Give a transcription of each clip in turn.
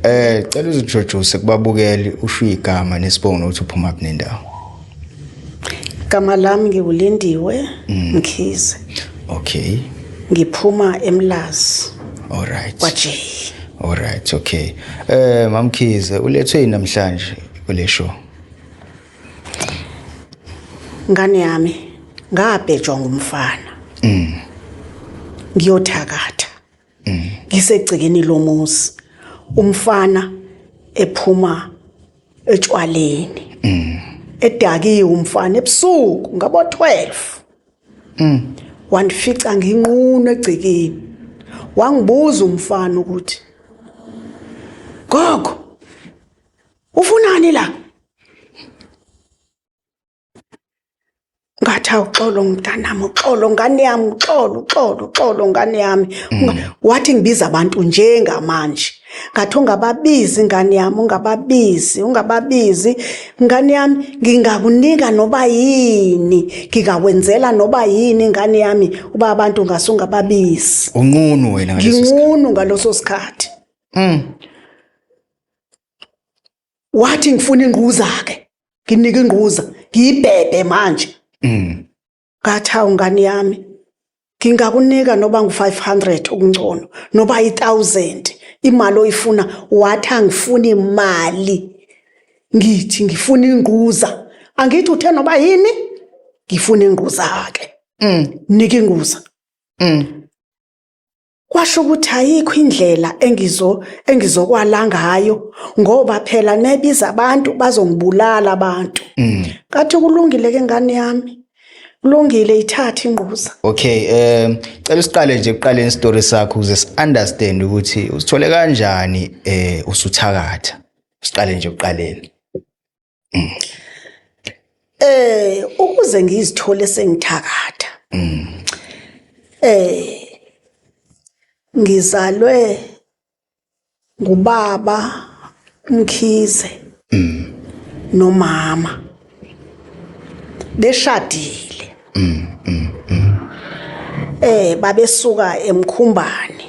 Eh cela uzintroduce kubabukeli usho igama nesibongo nokuthi uphuma kuphi nendawo. Igama lami ngiwulindiwe mm. Mkhize. Okay. Ngiphuma eMlazi. All right. KwaJay. All right, okay. Eh mamkhize ulethwe yini namhlanje kule show? Ngane yami ngabhejwa ngumfana. Mm. Ngiyothakatha. ngisegcekeni lomuzi umfana ephuma etshwaleni edakiwe umfana ebusuku ngabo 12 mm wandifica nginqunu egcekeni wangibuza umfana ukuthi gogo ufunani la ngathi awuxolo mntanami uxolo ngane yami uxolo uxolo uxolo ngane yami mm. wathi ngibiza abantu njengamanje ngathi ungababizi ngane yami ungababizi ungababizi ngane yami ngingakunika noba yini ngingakwenzela noba yini ngane yami uba abantu ngase ungababizi unqunu wena nginqunu ngaloso sikhathi mm. wathi ngifuna ingquza ke nginike ingquza ngiyibhebhe manje mm ngathi hawu ngane yami ngingakunika noba ngu-500 okungcono noba i-1000 imali oyifuna wathi angifuni imali ngithi ngifuna ingquza angithi uthe noba yini ngifuna ingquza-ke mm. nika ingquza mm. Kwasho ukuthi ayikho indlela engizo engizokwala ngayo ngoba phela nebiza abantu bazongibulala abantu. Mm. Kathi kulungile ke ngane yami. Kulungile ithatha ingquza. Okay, um cela usiqale nje kuqaleni story sakho ukuze si understand ukuthi usithole kanjani eh usuthakatha. Siqale nje kuqaleni. eh ukuze ngizithole sengithakatha eh ngizalwe ngubaba umkhize nomama beshadile eh babesuka emkhumbane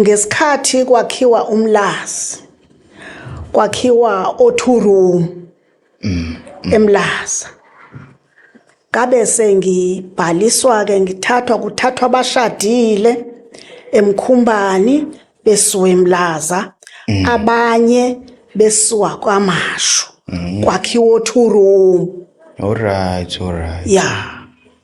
ngesikhathi kwakhiwa umlazi kwakhiwa o-two room emlaza ngabe sengibhaliswa-ke ngithathwa kuthathwa abashadile emkhumbani besuka emlaza abanye besuka kwamashu kwakhiwa o-two room Alright, alright. ya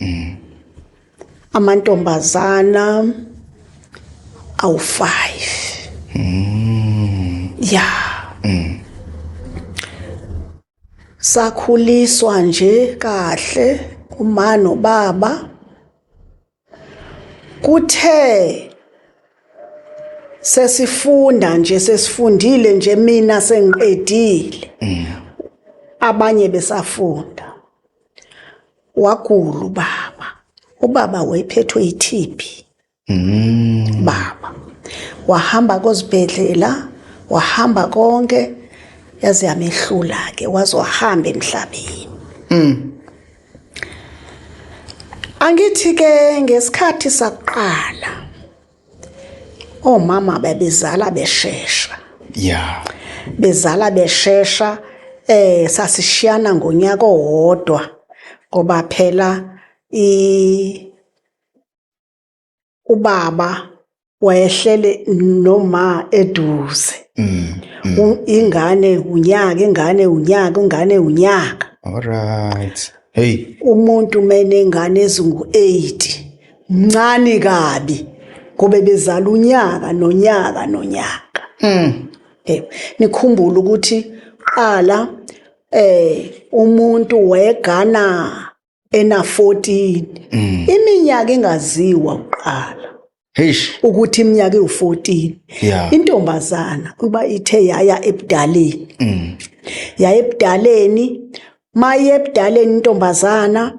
mm. amantombazana awu-5 mm. ya mm. sakhuliswa nje kahle uma nobaba kuthe sesifunda nje sesifundile nje mina sengiqedile mm. abanye besafunda wagula ubaba ubaba wayephethwe yi-tb mm. baba wahamba kozibhedlela wahamba konke yaze yamehlula-ke waze wahamba emhlabeni mm. angithi-ke ngesikhathi sakuqala omama babezala beshesha yeah bezala beshesha eh sasishiyana ngonyaka owodwa ngoba phela i ubaba wayehlele noma eduze mm, mm. ingane unyaka ingane unyaka ingane unyaka all right hey umuntu menengane ezingu 8 mncane kabi ngoba bezala unyaka nonyaka nonyaka mm eh nikhumbule ukuthi qala eh umuntu wegana ena 14 mm. iminyaka engaziwa uqala Eish. ukuthi iminyaka ewu14 yeah. intombazana kuba ithe yaya ebudaleni mm. yaya ebudaleni maye ebudaleni intombazana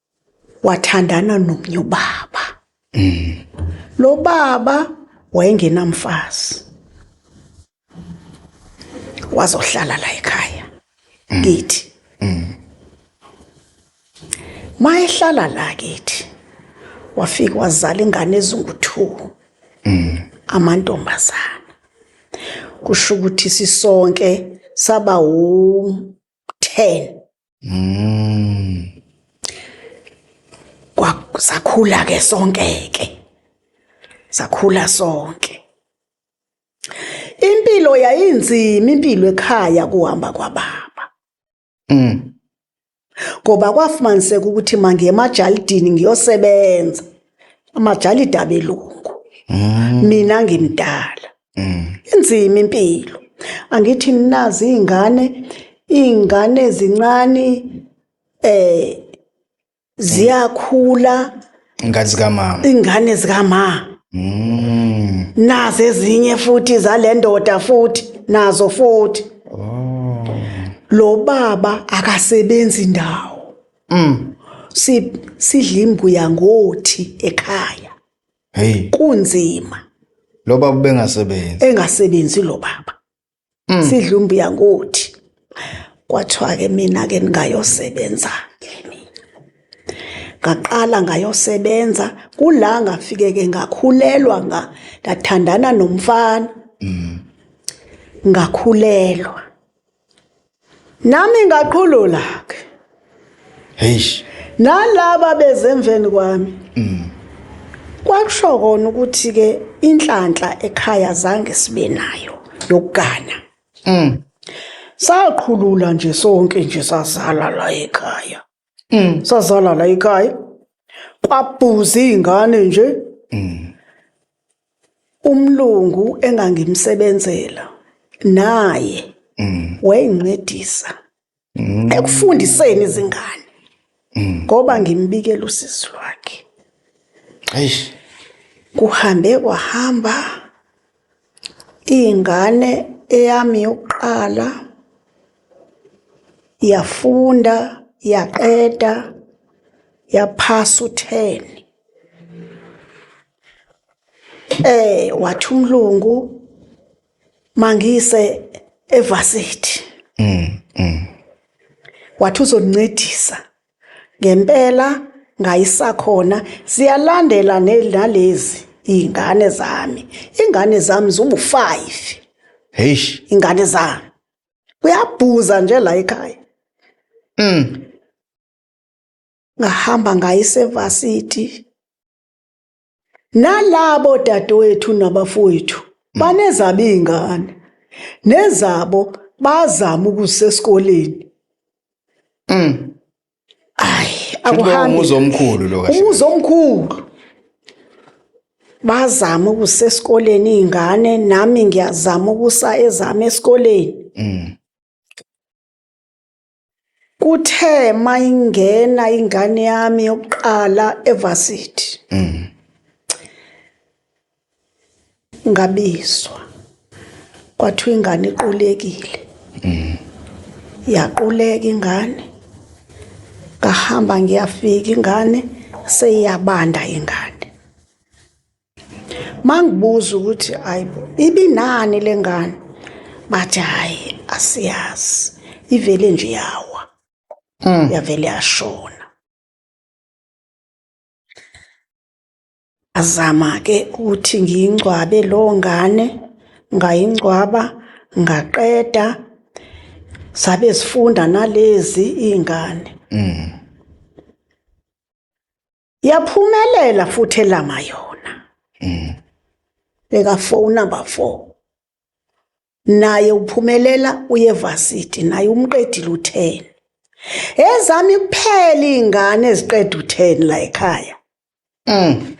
wathandana nomnye ubaba mm. lo baba wayengenamfazi wazohlala la ekhaya mm. kithi mm. mayehlala la kithi wafika wazala ingane ezingu-2 mm. amantombazana kusho ukuthi sisonke saba wu-10 Mm. Kwasakhula ke sonke ke. Sakhula sonke. Impilo yayinzima impilo ekhaya kuhamba kwababa. Mm. Ngoba kwafumaniseka ukuthi mangiye emajalidini ngiyosebenza. Amajalidi abelungu. Mm. Mina ngimdala. mm. inzima impilo angithi nazi izingane izingane ezincane eh ziyakhula ingane zikamama ingane zikamama mm. nazo ezinye futhi zalendoda futhi nazo futhi oh. lo baba akasebenzi ndawo mm. si sidla imbuya ngothi ekhaya hey kunzima lo baba bengasebenzi engasebenzi lo baba mm. sidla umbiya ngothi kwathiwa ke mina ke ningayosebenza ngaqala ngayosebenza kula ngafike ke ngakhulelwa nga ndathandana nomfana mm. ngakhulelwa nami ngaqhulula ke heish nalaba bezemveni kwami mm. kwakusho kona ukuthi ke inhlanhla ekhaya zange sibe nayo yokugana mm. saqhulula nje sonke nje sazala la ekhaya mm. sazala la ekhaya kwabhuza izingane nje mm. umlungu engangimsebenzela naye mm. wayengincedisa mm. ekufundiseni izingane mm. ngoba ngimbikela usisi lwakhe eish kuhambe kwahamba Ingane eyami yokuqala yafunda yaqeda yaphasa u-10 eh wathi umlungu mangise evarsity mm, mm. wathi uzonincedisa Ngempela ngayisakhona ziyalandela nalezi iy'ngane zami. Iy'ngane zami ziwu-five. Heish. Iy'ngane zami. Kuyabhuza nje la ekhaya. Mm. Ngahamba ngayisevasithi. nalabo dadewethu nabafowethu mm. banezabo iy'ngane nezabo bazama ukuzisa esikoleni mm. ayi akuhambi umuzi omkhulu lo kahle umuzi omkhulu bazama ukusa esikoleni iy'ngane nami ngiyazama ukusa ezami esikoleni mm. kuthe mayingena ingane yami yokuqala evarsity mm. ngabizwa kwathiwa ingane iqulekile mm. yaquleka ingane ngahamba ngiyafika ingane seyiyabanda ingane mangibuza ukuthi ayibo ibinani lengane bathi hayi asiyazi ivele nje yawa mm. yavele yashona azama ke ukuthi ngiyingcwabe lo ngane ngayingcwaba ngaqeda sabe sifunda nalezi ingane mm. yaphumelela futhi elama yona mm. beka phone number 4 naye uphumelela uyevasiti naye umqedile u10 ezami kuphela ingane eziqeda u10 la ekhaya mm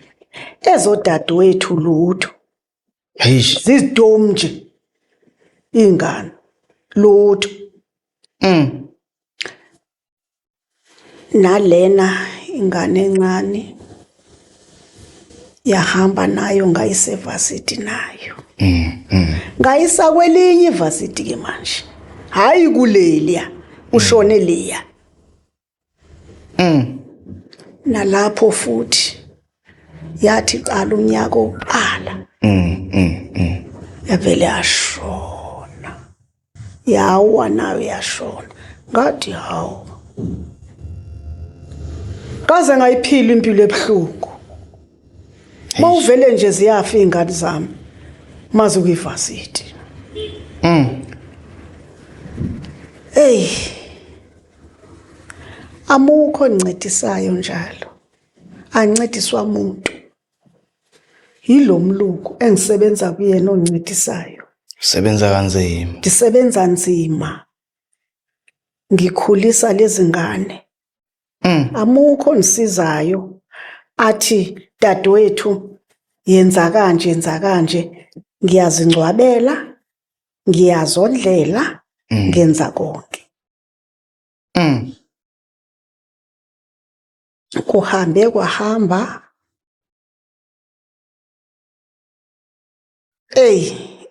ezodadewethu lutho eish zizidom nje ingane lutho mm nalena ingane encane yahamba nayo ngayise varsity nayo mm, mm. ngayisa kwelinye varsity ke manje hayi kuleliya ushone mm. liya mm nalapho futhi yathi qala unyaka oqala mm mm yavele ashona yawa nayo yashona ngathi hawu kaze ngayiphila impilo ebuhlungu uma uvele nje ziyafa iy'ngane zami maze ukuyivasithi mm. eyi amukho ncedisayo njalo ancediswa muntu Yilo mlungu engisebenza kuyena oncedisayo. Usebenza kanzima. Ndisebenza nzima. Ngikhulisa lezi ngane. Mm. Amukho ongisizayo athi dadewethu yenza kanje yenza kanje ngiyazingcwabela ngiyazondlela Mm. ngenza konke. Mm. kuhambe kwahamba eyi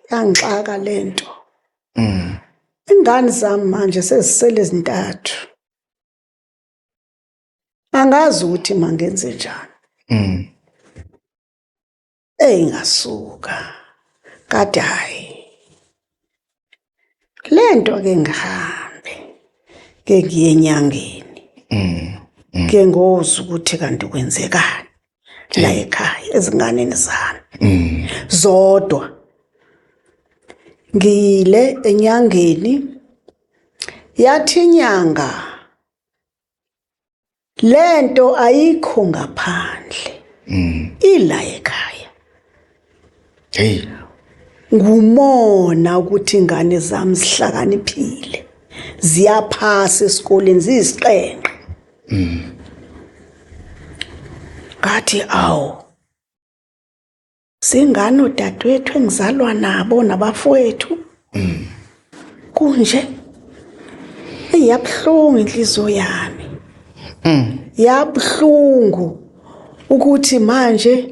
yangixaka le nto mm. ingane zami manje sezisele ezintathu angazi ukuthi mangenze njani mm. eyingasuka kade hayi lento ke ngihambe ke ngiye enyangeni mm, mm. ke ngozi ukuthi kanti kwenzekani la ekhaya ezinganeni zami mm. zodwa ngiyile enyangeni yathi inyanga lento ayikho ngaphandle mm. ila ekhaya hey ngumona ukuthi ingane zami zihlakaniphile ziyaphasa esikoleni ziyisiqenqe mm. ngathi awu singani odadewethu engizalwa nabo nabafowethu mm. kunje iyabuhlungu inhliziyo yami mm. yabuhlungu ukuthi manje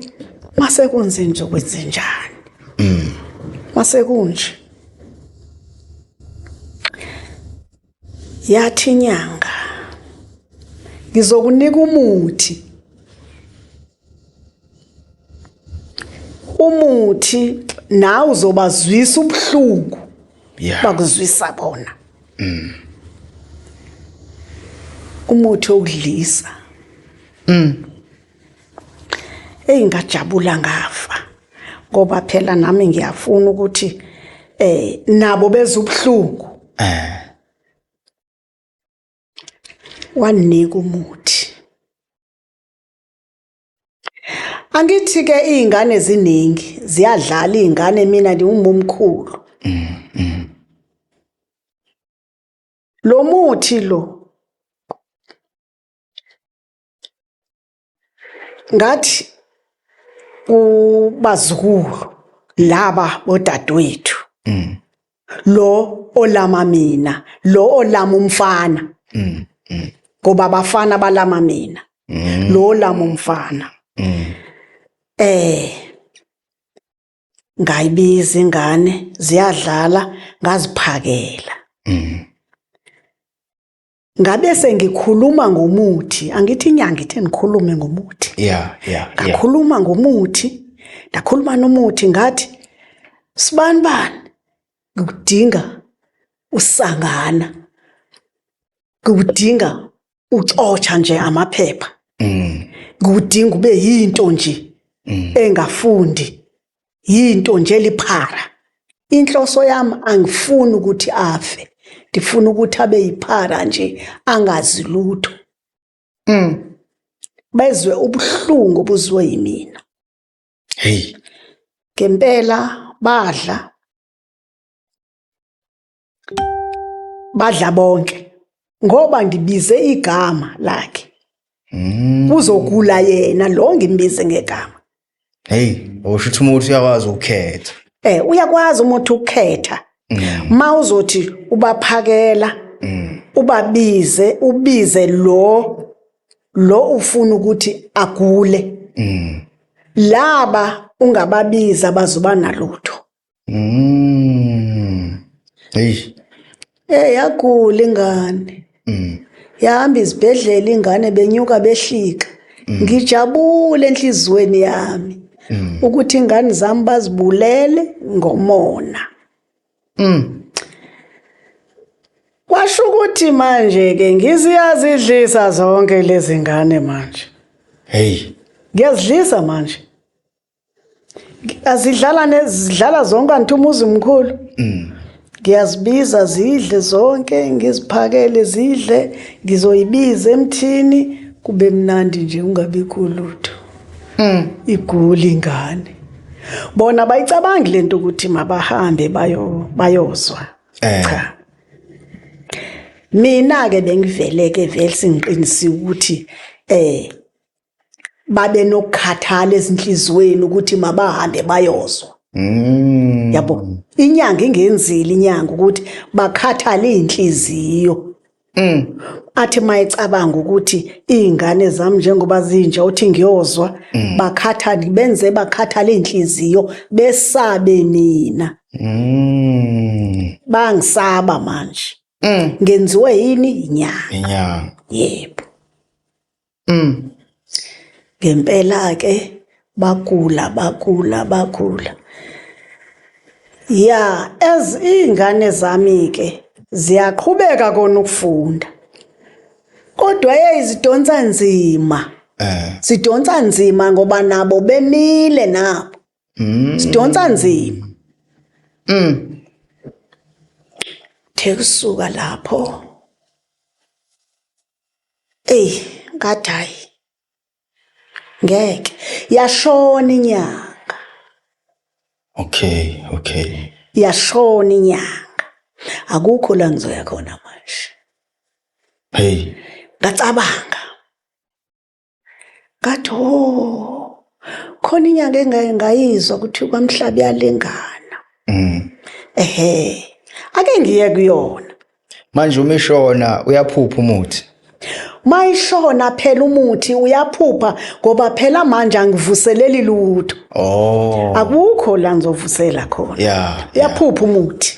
mase kunze nje kwenze njani mm. mase kunje Yathi inyanga, ngizokunika umuthi. Umuthi nawe uzobazwisa ubuhlungu Yeah. bakuzwisa bona. Umuthi okudlisa. eyi ngajabula ngafa ngoba phela nami ngiyafuna ukuthi eh nabo beza ubuhlungu eh wanika umuthi angithi ke izingane ziningi ziyadlala izingane mina ngiwumomkhulu mm, mm. lo muthi lo ngathi ubazukulu laba bodadewethu mm. lo olama mina lo olama umfana mm. mm. ngoba abafana balama mina mm. lo olama umfana mm. eh ngayibiza ingane ziyadlala ngaziphakela mm. ngabe sengikhuluma ngomuthi angithi inyanga ithe ngikhulume ngomuthi yeah yeah ngakhuluma yeah. ngomuthi ndakhuluma nomuthi ngathi sibani bani ngikudinga usangana ngikudinga uxotsha nje amaphepha mm ngikudinga ube yinto nje mm. engafundi yinto nje liphara inhloso yami angifuni ukuthi afe ndifuna ukuthi abe yiphara nje angazi lutho mm. bezwe ubuhlungu obuzwe yimina hey ngempela badla badla bonke ngoba ngibize igama lakhe Mm. uzogula yena lo ngimbize ngegama Hey, usho ukuthi umuntu uyakwazi ukukhetha. eh uyakwazi umuntu ukukhetha Mm. ma uzothi ubaphakela Mm. ubabize ubize lo lo ufuna ukuthi agule Mm. laba ungababiza bazoba nalutho Mm. Eish. Eh yagula ingane. Mm. Yahamba izibhedlela ingane benyuka behlika. Ngijabule enhlizweni yami Mm. ukuthi ingane zami bazibulele ngomona. Mm. Kwasho ukuthi manje ke ngiziyazidlisa zonke lezi ngane manje. Hey. Ngiyazidlisa manje. azidlala nezidlala zonke anti umuzi mkhulu mm. ngiyazibiza zidle zonke ngiziphakele zidle ngizoyibiza emthini kube mnandi nje ungabikho lutho mm. igula ingane bona bayicabangi lento ukuthi mabahambe bayo bayozwa eh. cha mina ke bengiveleke vele singiqinisile ukuthi eh babe nokukhathala ezinhlizweni ukuthi mabahambe bayozwa mm. yabo inyanga ingenzile inyanga ukuthi bakhathale izinhliziyo mm. athi mayicabanga ukuthi izingane zami njengoba zinja uthi ngiyozwa mm. bakhathale benze bakhathale izinhliziyo besabe mina mm. bangisaba manje mm. ngenziwe yini inyanga inyanga yebo Mm. Ngempela ke bagula bagula bagula. Ya as ingane zami ke ziyaqhubeka kona ukufunda. Kodwa yeyizidonsa nzima. Eh. Sidonsa nzima ngoba nabo bemile nabo. Mm. Sidonsa nzima. Mm. Thekusuka lapho. Ey ngathi hayi ngeke yashona inyanga okay okay yashona inyanga akukho la ngizoya khona manje hey ngacabanga ngathi ho oh, khona inyanga engaye ngayizwa ukuthi kwamhlaba iyalingana mm. ehe ake ngiye kuyona manje uma ishona uyaphupha umuthi mayishona phela umuthi uyaphupha ngoba phela manje angivuseleli lutho oh akukho la ngizovusela khona yeah uyaphupha umuthi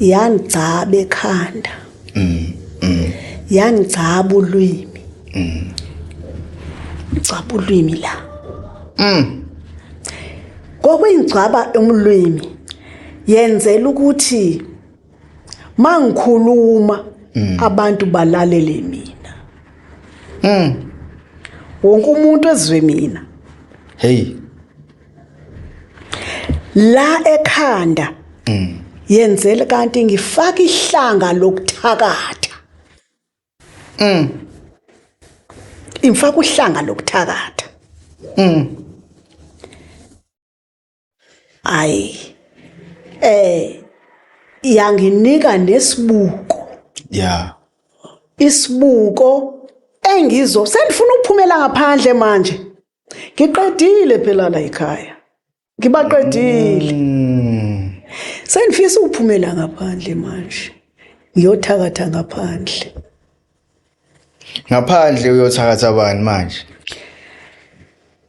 yangigcaba ekhanda mm, mm. yangigcaba ulwimi mm. ngigcaba ulwimi la mm. kokuyingcwaba umlwimi yenzela ukuthi mangikhuluma mm. abantu balalele mina mm. wonke umuntu ezwe mina hey la ekhanda mm. yenzele kanti ngifaka ihlanga lokuthakatha mm imfaka uhlanga lokuthakatha mm ay eh yanginika nesibuko yeah isibuko engizo sendifuna ukuphumela ngaphandle manje ngiqedile phela la ekhaya ngibaqedile mm. sengifisa ukuphumela ngaphandle manje ngiyothakatha ngaphandle ngaphandle uyothakatha bani manje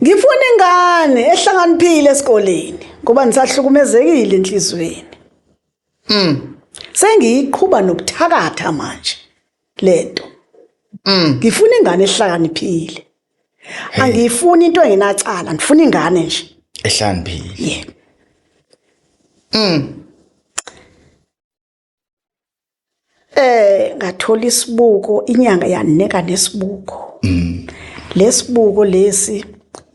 ngifuna ingane ehlakaniphile esikoleni ngoba ngisahlukumezekile enhlizweni mm sengiyiqhuba nokuthakatha manje lento mm. ngifuna ingane ehlakaniphile angiyifuni into engenacala ngifuna ingane nje ehlakaniphile yeah mm eh ngathola isibuko inyanga yanika nesibuko mm. lesibuko lesi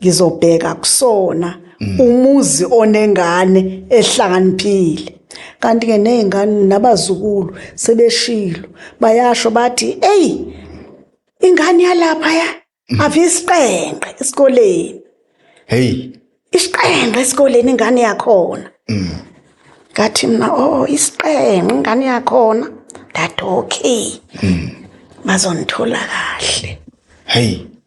ngizobheka kusona mm. umuzi onengane ehlakaniphile kanti ke nezingane nabazukulu sebeshilo bayasho bathi hey ingane yalapha ya mm. avisiqenqe esikoleni hey isiqenqe esikoleni ingane yakhona mm. ngathi mina oh isiqenqe ingane yakhona that okay bazonithola kahle hey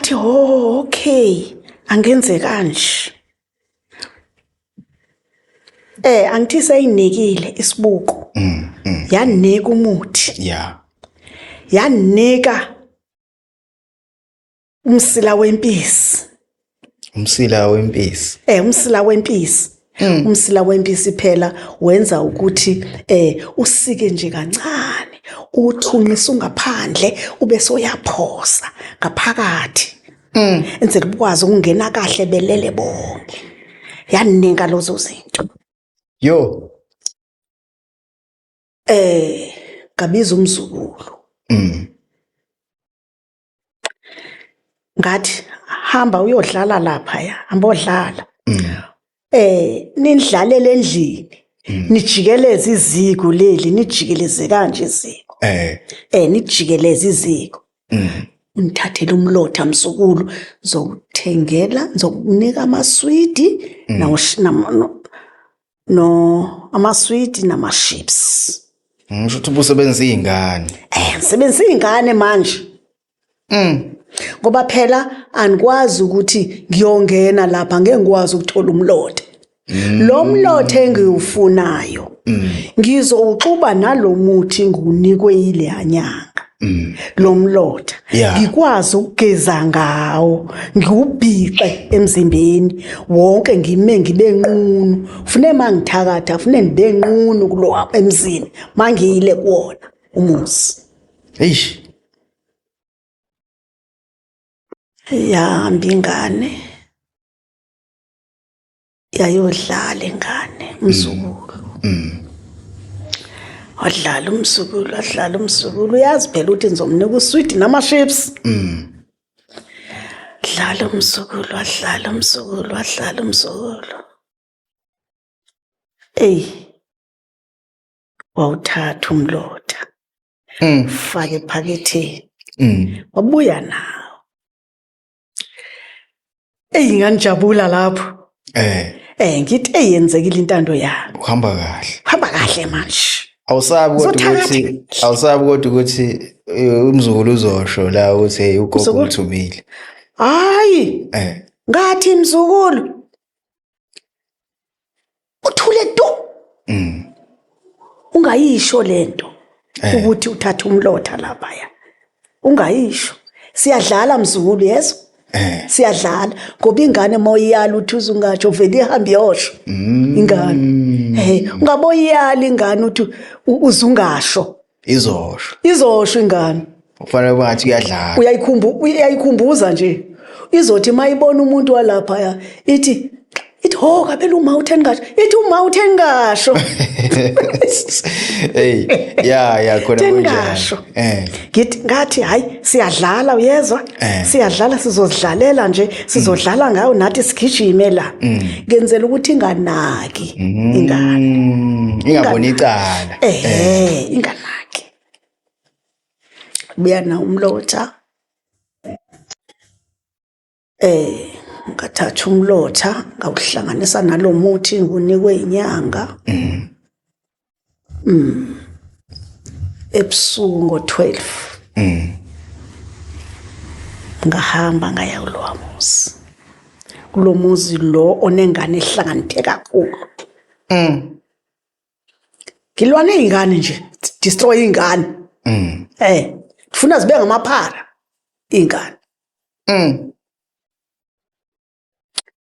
ngathi ho oh, okay angenze kanje eh angithi seyinikile isibuko mm, mm. yanika umuthi yeah yanika umsila wempisi umsila wempisi eh umsila wempisi Mm. umsila wempisi phela wenza ukuthi eh usike nje kancane uthunqisa ungaphandle ube soyaphosa ngaphakathi mm. enze kubukwazi ukungena kahle belele bonke yaninga lozo zinto yo eh kabiza umzukulu mm. ngathi hamba uyodlala lapha ya hamba odlala mm. eh nindlalele endlini mm. nijikeleze iziko leli nijikeleze kanje iziko eh eh nijikeleze iziko mm. ungithathele umlotha msukulu ngizowuthengela ngizokunika amaswidi mm. no amaswidi namaships ngisho ukuthi ubusebenzisa iy'ngane eh ngisebenzisa iy'ngane manje mm. ngoba phela anikwazi ukuthi ngiyongena lapha ngeke ngikwazi ukuthola umlothe mm. lo mlothe engiwufunayo mm. ngizowuxuba nalomuthi ngunikwe yile yanyanga mm. lo mlotha yeah. ngikwazi ukugeza ngawo ngiwubhixe emzimbeni wonke ngime ngibe nqunu fune mangithakatha fune ngibe nqunu kulo emzini mangiyile kuwona umuzi eish yahamba ingane yayodlala ingane umzukulu mm. mm. wadlala umzukulu wadlala umzukulu uyazi phela ukuthi ngizomnika uswidi nama-ships mm. dlala umzukulu wadlala umzukulu wadlala umzukulu eyi wawuthatha umlotha mm. fake ephaketheni mm. wabuya nawo eyi nganijabula lapho eh eh ngithi eyenzekile intando yakho uhamba kahle uhamba kahle manje awusabi kodwa ukuthi awusabi kodwa ukuthi eh, umzukulu uzosho la ukuthi hey ugogo uthumile hayi eh ngathi mzukulu uthule tu mm. ungayisho lento eh. ukuthi uthatha umlotha lapha ya ungayisho siyadlala mzukulu yeso eh. siyadlala ngoba ingane uma uyiyala uthi uzungatsho vele ihambe iyosho mm. ingane hey eh, ungaboyiyala ingane uthi uzungasho izosho izosho ingane kufanele uba ngathi uyadlala uyayikhumbu uyayikhumbuza nje izothi mayibona umuntu walapha ya ithi ithi ho kabela uma utheni kasho ithi uma utheni kasho hey ya ya khona kunjalo eh ngithi ngathi hayi siyadlala uyezwa Eh. siyadlala sizozidlalela nje sizodlala mm. ngayo nathi sigijime la mm. ngenzela ukuthi inganaki mm. ingane ingaboni icala eh, eh inganaki buya na umlotha eh ngathatha umlotha ngawuhlanganisa nalomuthi ngunikwe inyanga mm. ebusuku ngo-12 mm. ngahamba ngaya kulowa muzi kulo muzi lo onengane ehlanganithe kakhulu mm. ngilwa ney'ngane nje destroy iy'ngane mm. eh kufuna zibe ngamaphara iy'ngane mm.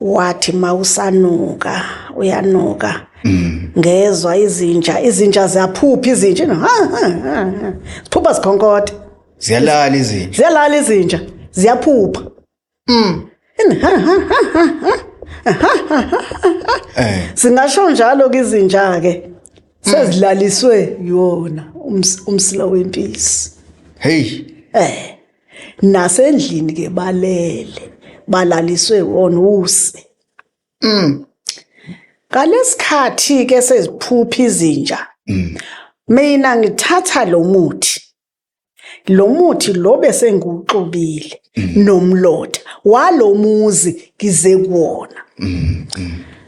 wathi mawusanuka uyanuka mm. ngezwa izinja izinja ziyaphupha izinja siphupha zikhonkothe ziyalala izinja ziyalala izinja ziyaphupha mm eh. singasho njalo kizinja ke mm. sezilaliswe yona umsila wempisi hey eh nasendlini ke balele balaliswe wonuse mm ngalesikhathi ke seziphupha izinja mm. mina ngithatha lo muthi lo muthi lo bese ngiwuxubile mm. nomlotha walomuzi ngize kuwona mm.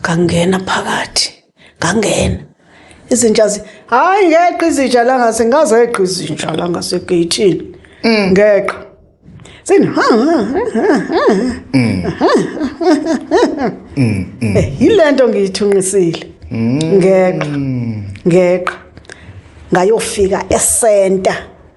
ngangena phakathi ngangena izinja zi hayi ngeqa izinja la ngase ngazeqa izinja la ngase geyithini mm. ngeqa sini ha ha yilento ngiyithunqisile mm. ngeqa ngeqa ngayofika esenta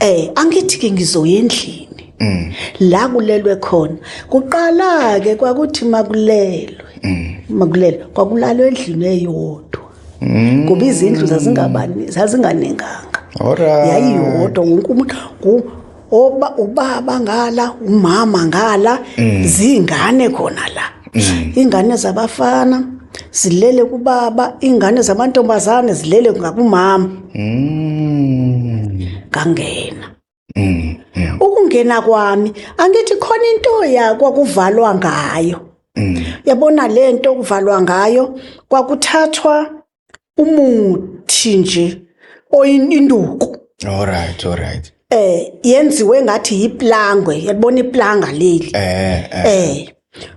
Eh angithi ke ngizoya endlini. Mm. La kulelwe khona. Kuqala ke kwakuthi makulelwe. Mm. Makulelwe kwakulalwe endlini eyodwa. Mm. Ngoba izindlu zazingabani zazinganenganga. Alright. Yayiyodwa wonke umuntu oba ubaba ngala umama ngala mm. zingane khona la mm. ingane zabafana zilele kubaba ingane zamantombazane zilele ngakumama Mm. ngangena Mm. Mm. ukungena kwami angithi khona into yakwa kuvalwa ngayo Mm. yabona le nto kuvalwa ngayo kwakuthathwa umuthi nje oyinduku All right, all right. eh yenziwe ngathi yiplangwe yabona iplanga leli Eh, eh. eh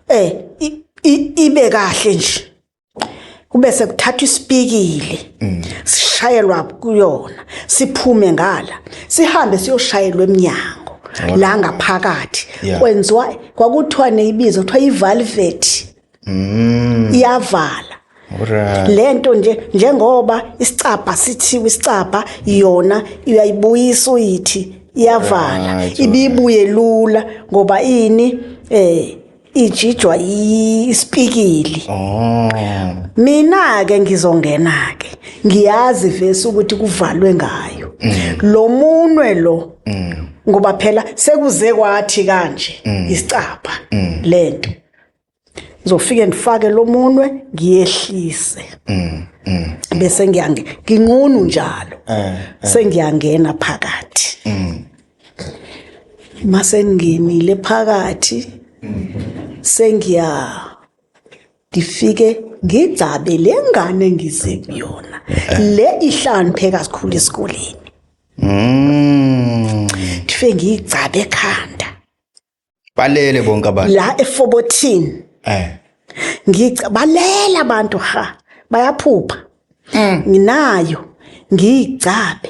eh i- i- ibe kahle nje kube sekuthathwa isipikili mm. sishayelwa kuyona siphume ngala sihambe siyoshayelwa eminyango la ngaphakathi kwenziwa kwakuthiwa neyibizo kuthiwa ivalveti mm. iyavala lento nje njengoba isicabha sithiwa isicabha yona uyayibuyisa uyithi iyavala ibibuye lula ngoba ini eh ijijwa yi- isipikili Oh. mina-ke ngizongena-ke ngiyazi vesi ukuthi kuvalwe ngayo lo munwe lo ngoba phela sekuze kwathi kanje isicabha le nto ngizofike ndifake lo munwe ngiyehlise bese ngiyange nginqunu njalo Eh, sengiyangena phakathi masengingenile phakathi sengiya ngifike ngigcabe le ngane engize kuyona le ihlaniphe kakhulu esikoleni Mm. ngifike ngiyigcabe ekhanda Balele bonke abantu. la e-14 Eh. ngica balela abantu ha bayaphupha nginayo ngiyigcabe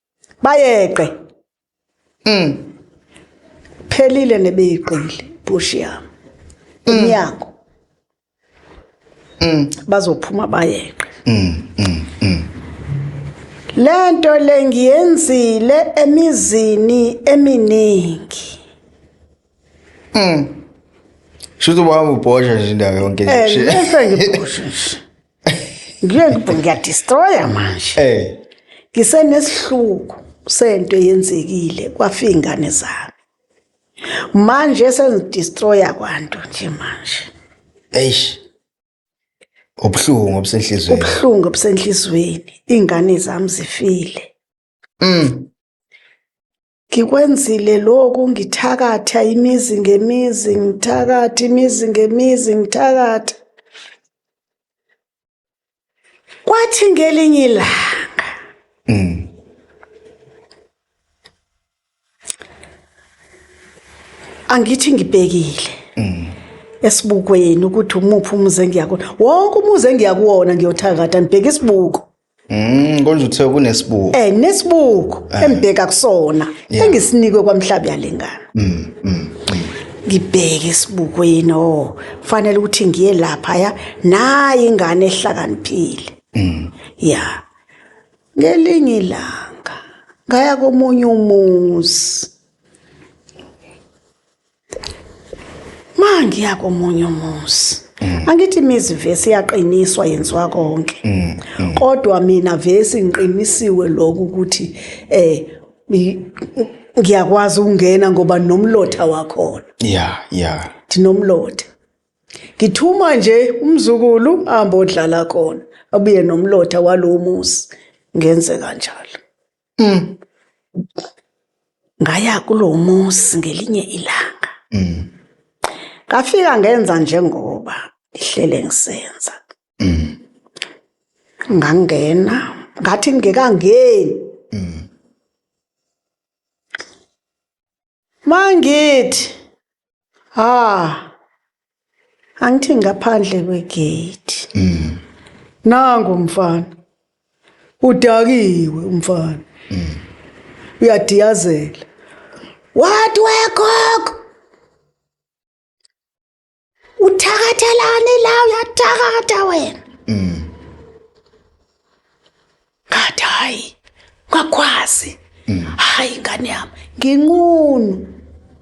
bayeqe mm phelile nebeyiqile push yami mm. umnyango mm bazophuma bayeqe mm mm, mm. lento lengiyenzile emizini eminingi mm Shuthi ubaba ubhosha nje indawo yonke nje. Eh, ngeke ngibhoshe nje. Ngiyokuba ngiyadestroya manje. Eh. Ngisenesihluku sento yenzekile kwafi ingane zami. Manje sengidestroya kwanto nje manje. Eish. Ubuhlungu obusenhlizweni. Ubuhlungu obusenhlizweni. Ingane zami zifile. Mm. Ngikwenzile lokhu ngithakatha imizi ngemizi ngithakatha imizi ngemizi ngithakatha. Kwathi ngelinye ilanga mm. angithi ngibhekile mm. esibukweni ukuthi umuphi umuzi engiyakona wonke umuzi engiyakuwona ngiyothakatha ngibheke isibuko Mm konje uthe kunesibuko. Eh nesibuko eh. embheka kusona engisinikwe kwamhlabi yalengana. Mm, mm mm. Ngibheke isibukweni oh fanele ukuthi ngiye lapha ya nayi ingane ehlakaniphile. Mm. Yeah. Ngelinye ilanga ngaya komunye umuzi. Ma ngiya komunye umuzi. Mm. Angithi imizi vesi yaqiniswa yenziwa konke. Mm, mm. Kodwa mina vesi ngiqinisiwe lokho ukuthi eh ngiyakwazi ukungena ngoba nomlotha wakhona. Yeah, yeah. Thinomlotha. Ngithuma nje umzukulu ahambe odlala khona. Abuye nomlotha walomuzi. Ngenze kanjalo. Mm. ngaya kulowo muzi ngelinye ilanga Mm. ngafika ngenza njengoba ngihlele ngisenza Mm. ngangena ngathi ngingekangeni Mm. mangithi ha angithi ngaphandle kwegate mm. nango mfana udakiwe umfana mm. uyadiyazela what wekok uthakathelani la uyathakatha wena mm. ngathi hayi ngakwazi mm. hayi ngane yami nginqunu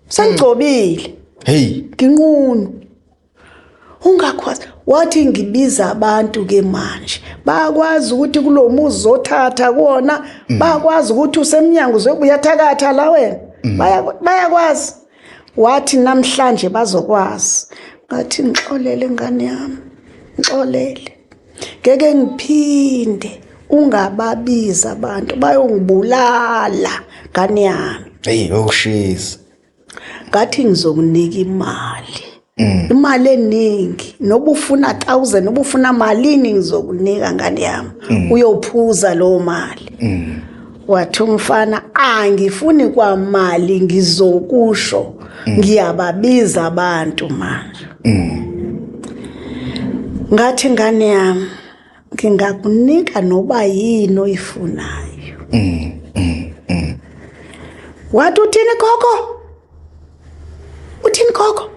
sengigcobile hey nginqunu ungakwazi wathi ngibiza abantu ke manje bakwazi ukuthi kulomuzi zothatha kuona mm. bakwazi ukuthi usemnyango uzobuya thakatha la wena mm. bayakwazi wathi namhlanje bazokwazi ngathi ngixolele ngane yami ngixolele ngeke ngiphinde ungababiza abantu bayongibulala ngane yami hey yokushisa oh, ngathi ngizokunika imali mm. imali eningi noba ufuna 1000 noba ufuna malini ngizokunika ngane yami mm. uyophuza lo mali mm. wathi umfana angifuni kwamali ngizokusho mm. ngiyababiza abantu manje mm. ngathi ngane yami ngingakunika noba yini oyifunayo mm, mm, mm. wathi uthini gogo uthini gogo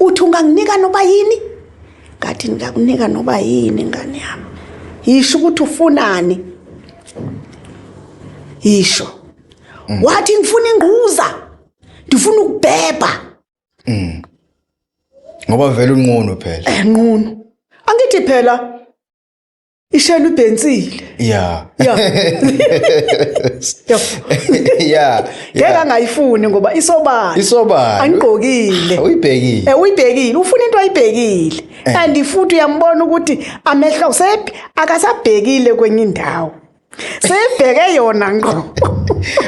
uthi unganginika noba yini ngathi ngingakunika noba yini ngane yami yisho ukuthi ufunani yisho mm. wathi ngifuna ingquza ndifuna ukubhebha mm. ngoba vele unqunu phela enqunu eh, angithi phela ishela udensile yeah yeah yeah ngeke angayifuni ngoba isobala isobala angigqokile uyibhekile eh uyibhekile ufuna into ayibhekile eh. and futhi uyambona ukuthi amehlo sephi akasabhekile kwenye indawo sebheke yona ngqo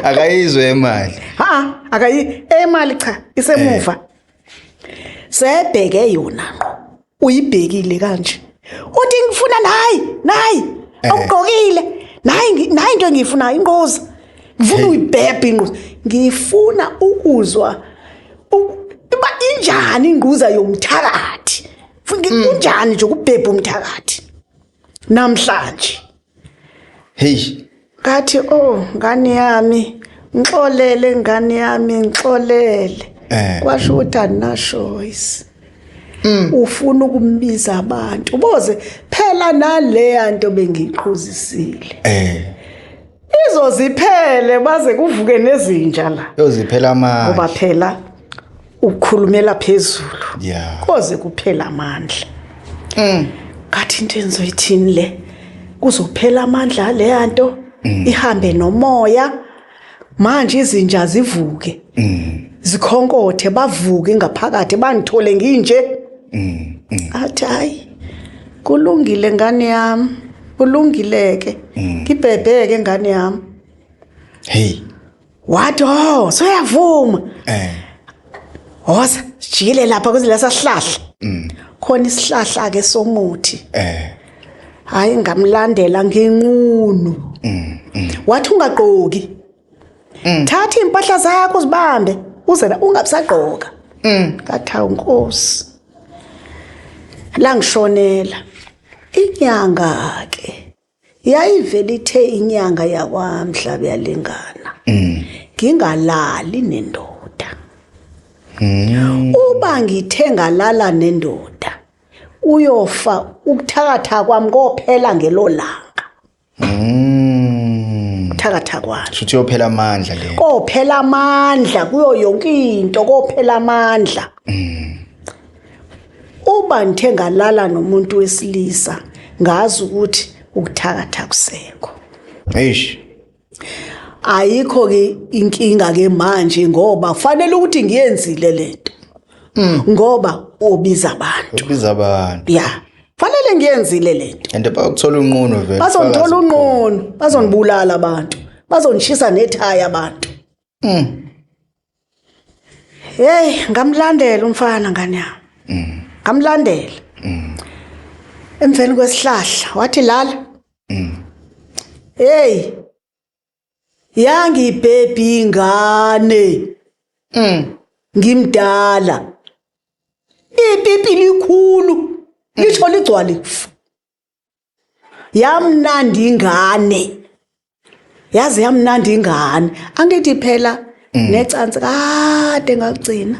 akayizwe imali ha akayi emali cha isemuva eh. sebheke yona ngqo uyibhekile kanje uthi ngifuna nayi nayi eh. awugqokile nayi nayi into engiyifunayo inquza ngifuna uyibhebhe inquza ngifuna ukuzwa uba injani inquza yomthakathi mm. kunjani nje ukubhebha umthakathi namhlanje heyi ngathi o oh, ngane yami ngixolele ngane yami ngixolele eh. kwasho ukuthi andinashoyisi mm. ufuna ukumbiza abantu uboze phela naleya nto bengiqhuzisile eh izoziphele baze kuvuke nezinja la yoziphela manje ngoba phela ukhulumela phezulu yeah. koze kuphela amandla mm. ngathi into engizoyithini le kuzophela amandla leya nto mm. ihambe nomoya manje izinja zivuke mm. zikhonkothe bavuke ngaphakathi bangithole nginje mm. mm. athi hayi kulungile ngane yami kulungileke mm. ngibhebheke ngane yami hey wathi oh soyavuma eh hosa sijikile lapha kuzila sahlahla mm. khona isihlahla ke somuthi eh hayi ngamlandela nginqunu mm, mm. wathi ungagqoki mm. thatha impahla zakho uzibambe uze ungabusagqoka mm. ngathawu nkosi la ngishonela inyanga ke yayivele ithe inyanga yakwamhlaba yalingana mm. ngingalali nendoda mm. uba ngithe ngalala nendoda uyofa ukuthakatha kwami kophela ngelolanga mm. thakatha kwami shuthi yophela amandla le kophela amandla kuyo yonke into kophela amandla mm. Uma ngithe ngalala nomuntu wesilisa ngazi ukuthi ukuthakatha kusekho. Eish. Ayikho ke inkinga ke manje ngoba kufanele ukuthi ngiyenzile lento. Mm. Ngoba ubiza abantu. Ubiza abantu. Yeah. Fanele ngiyenzile lento. And bakuthola unqunu vele. Bazongithola unqunu, bazonibulala abantu. Bazonishisa nethaya abantu. Mm. Hey, ngamlandela umfana ngane yami. Mm. Ngamlandela. Mm. Emveni kwesihlahla wathi lala. Mm. Hey. Yangi baby ingane. Mm. Ngimdala. Ipipi likhulu. Lisho ligcwale kufa. yamnandi ingane yaze yamnandi ingane angithi phela mm. necansi kade ngakugcina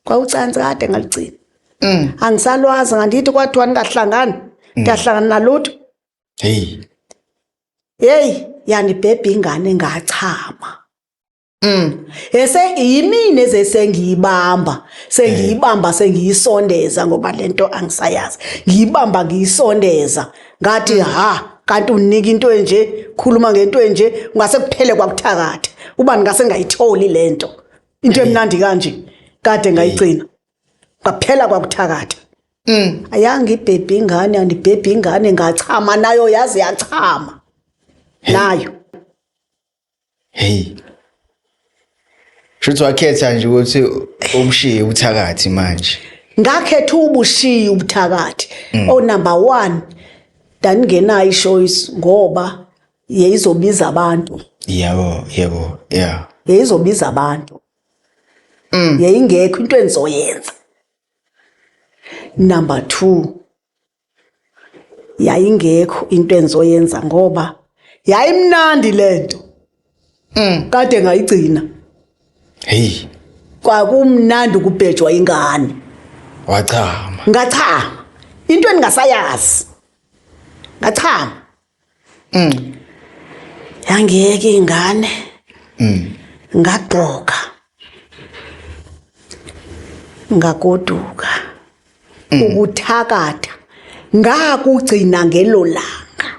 kwawucansi kade ngaligcina mm. angisalwazi ngandithi kwathiwa ningahlangani mm. ngiyahlangana nalutho heyi heyi yanibhebha ingane ngachama Mm. Ese yimini ezesengiyibamba, sengiyibamba sengiyisondeza ngoba lento angisayazi. Ngiyibamba ngiyisondeza. Ngathi mm. ha kanti unika into enje, khuluma ngento enje, ungase kuphele kwakuthakatha. Uba ngase ngayitholi lento. Into emnandi kanje kade ngayigcina. Ngaphela kwakuthakatha. Mm. Ayanga ibhebhi ingane, andibhebhi ingane ngachama nayo yazi yachama. Nayo. Hey. Shuthi wakhetha nje ukuthi ubushiye ubuthakathi manje. Ngakhetha ubushiye ubuthakathi. Mm. O oh, number 1 daningenayo ichoice ngoba yeyizobiza abantu. Yebo, yebo, yeah. Yeyizobiza abantu. Mm. Yeyingekho into engizoyenza. Number 2 yayingekho into engizoyenza ngoba yayimnandi lento mm. kade ngayigcina hey kwakumnandi ukubhejwa ingane wachama ngachama into endingasayazi ngachama mm. yangiyeka ingane mm. ngagqoka ngagoduka mm. ukuthakatha ngakugcina ngelo langa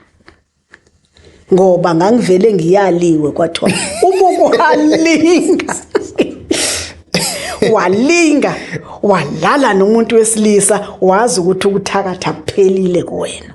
ngoba ngangivele ngiyaliwe kwathiwa uma ukuhalinga walinga walala nomuntu wesilisa wazi ukuthi ukuthakatha kuphelile kuwena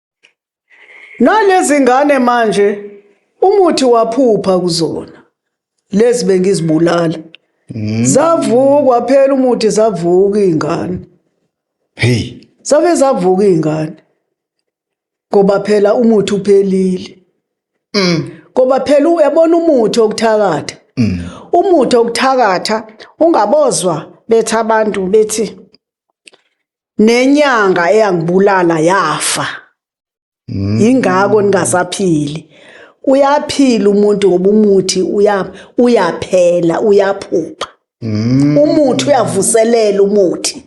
Nalezi ngane manje umuthi waphupha kuzona lezi bengizibulala mm. zavukwa phela umuthi zavuka izingane hey save zavuka izingane ngoba phela umuthi uphelile mm. ngoba phela uyabona umuthi okuthakatha mm. umuthi okuthakatha ungabozwa bethi abantu bethi nenyanga eyangibulala yafa Mm. yingakho ningasaphili uyaphila umuntu ngoba umuthi uya uyaphela uyaphupha Mm. umuthi uyavuselela umuthi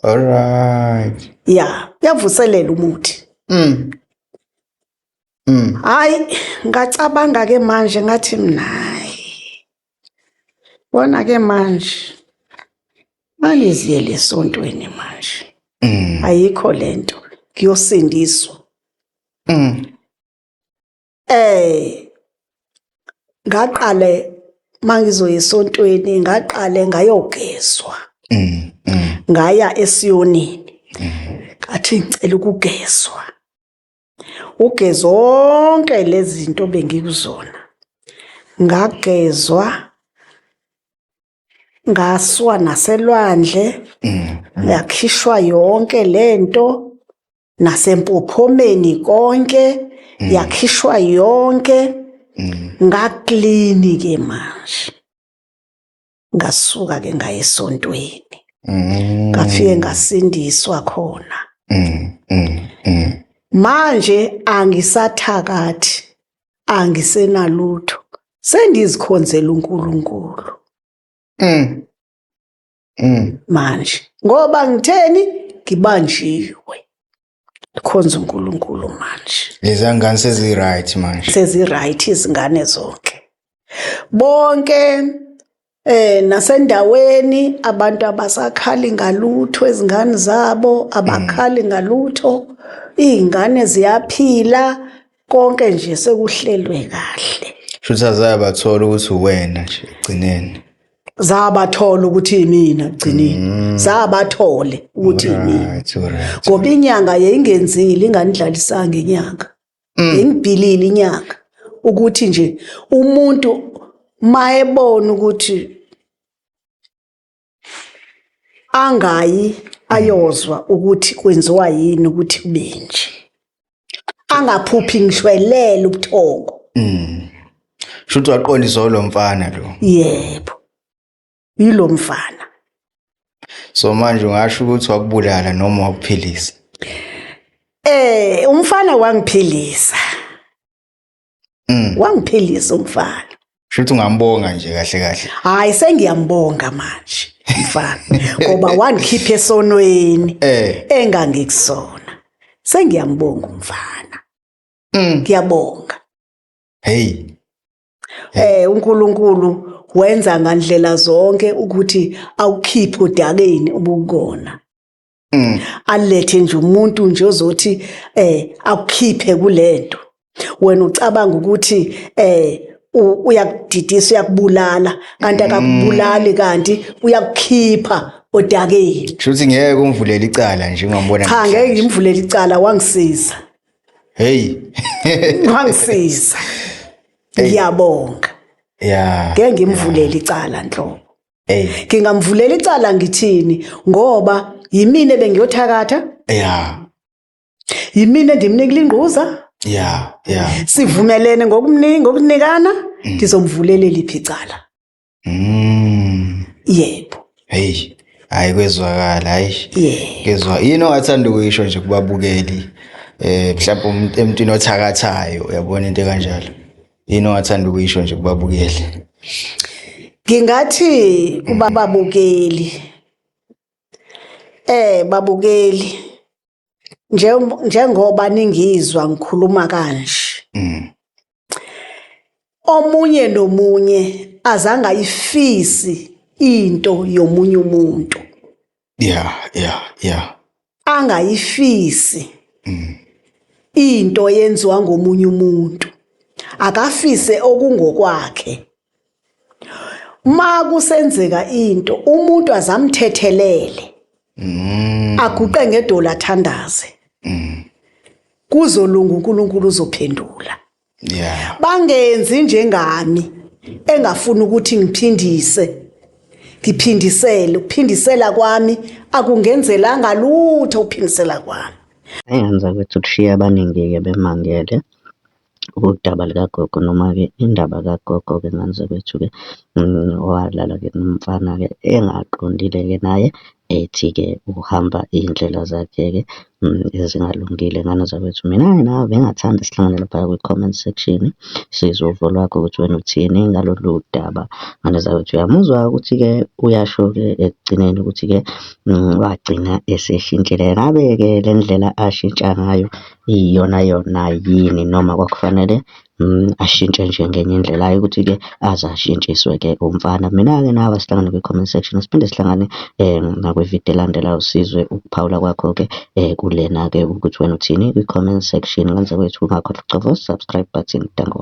All right. ya uyavuselela umuthi Mm. Mm. hayi ngacabanga ke manje ngathi mnayi Bona ke manje maliziyele esontweni manje. Mm. Ayikho lento kuyosindiswa. Mm. Eh ngaqale mangizoya esontweni ngaqale ngayogezwa. Mm. mm. Ngaya esiyonini. Mm. Athi ngicela ukugezwa. uge zonke lezi zinto bengikuzona ngagezwa ngaswa naselwandle mm, mm. yakhishwa yonke lento nasempophomeni konke mm. yakhishwa yonke ngaklini ke manje ngasuka ke ngaye esontweni mm. ngafike ngasindiswa khona mm, mm, mm. manje angisathakathi angisenalutho sengizikhonzela uNkulunkulu mm. mm. manje ngoba ngitheni ngibanjiwe khonza uNkulunkulu manje lezangane sezi right manje sezi right izingane zonke bonke eh nasendaweni abantu abasakhali ngalutho ezingane zabo abakhali mm. ngalutho izingane ziyaphila konke nje sekuhlelwe kahle shuthi azabathola ukuthi uwena nje ekugcineni zabathola ukuthi imina kugcineni zabathole ukuthi imina Right, alright. ngoba inyanga yayingenzile inganidlalisanga inyanga yayingibhilile inyanga ukuthi nje umuntu mayebona ukuthi angayi ayozwa ukuthi kwenziwa yini ukuthi kubenje angaphuphi ngishwelele ubuthongo mm. shuthi waqonda izolo mfana lo yebo yilo mfana so manje ungasho ukuthi wakubulala noma wakuphilisa eh umfana wangiphilisa Mm. wangiphelisa umfana Shuthi ungambonga nje kahle kahle. hayi sengiyambonga manje mfana ngoba wangikhipha esonweni Eh. engangikusona sengiyambonga umfana Mm. ngiyabonga Hey. eh uNkulunkulu wenza ngandlela zonke ukuthi awukhiphe udakeni ubukona mm. alethe nje umuntu nje ozothi eh akukhiphe kulento wena ucabanga ukuthi eh uyakudidisa uyakubulala kanti mm. akakubulali kanti uyakukhipha odakeni shuthi ngeke umvulele icala nje ungambona cha ngeke ngimvulele icala wangisiza hey wangisiza ngiyabonga yeah ngeke ngimvulele icala nhlobo hey ngingamvulela icala ngithini ngoba yimina bengiyothakatha yeah yimina endimnikile ingquza yeah yeah sivumelene ngokumningi ngokunikana mm. ngizomvulela liphi icala mm yebo hey hayi kwezwakala hayi ngezwa yini ongathanda ukuyisho nje kubabukeli eh mhlawumbe emntwini othakathayo uyabona into kanjalo yini ongathanda ukuyisho nje kubabukeli ngingathi kubababukeli eh babukeli njengoba ningizwa ngikhuluma kanje mm. omunye nomunye azange ayifisi into yomunye umuntu yeah yeah yeah angayifisi mm. into yenziwa ngomunye umuntu akafise okungokwakhe ma kusenzeka into umuntu azamthethelele mm. aguqe ngedola athandaze mm. kuzolunga uNkulunkulu uzophendula yeah bangenzi njengami engafuni ukuthi ngiphindise ngiphindisele ukuphindisela kwami akungenzelanga lutho ukuphindisela kwami engenza ukuthi kushiye abaningi-ke bemangele udaba likagogo noma-ke indaba kagogo-ke ngenzeka ukuthi-ke owalala-ke nomfana-ke engaqondile-ke naye ethi-ke uhamba iy'ndlela zakhe-ke ezingalungile. Ngane zakwethu, mina-ke nawe bengingathanda sihlangane laphaya kwi-comment section, sizwe uvo lwakho ukuthi wena uthini ngalolu daba. Ngane zakwethu, uyamuzwa-ke ukuthi-ke uyasho-ke ekugcineni ukuthi-ke wagcina eseshintshile. Ngabe-ke le ndlela ashintsha ngayo iyiyonayona yini noma kwakufanele Ashintshe nje ngenye indlela, hhayi ukuthi-ke aze ashintshiswe-ke umfana. Mina-ke nawe asihlangane kwi-comment section, siphinde sihlangane nakwi-video elandelayo sizwe ukuphawula kwakho-ke kulena-ke ukuthi wena uthini kwi-comment section. Ngaphandle kwethu ungakhohlwa ukucofa u-subscribe button. Danko.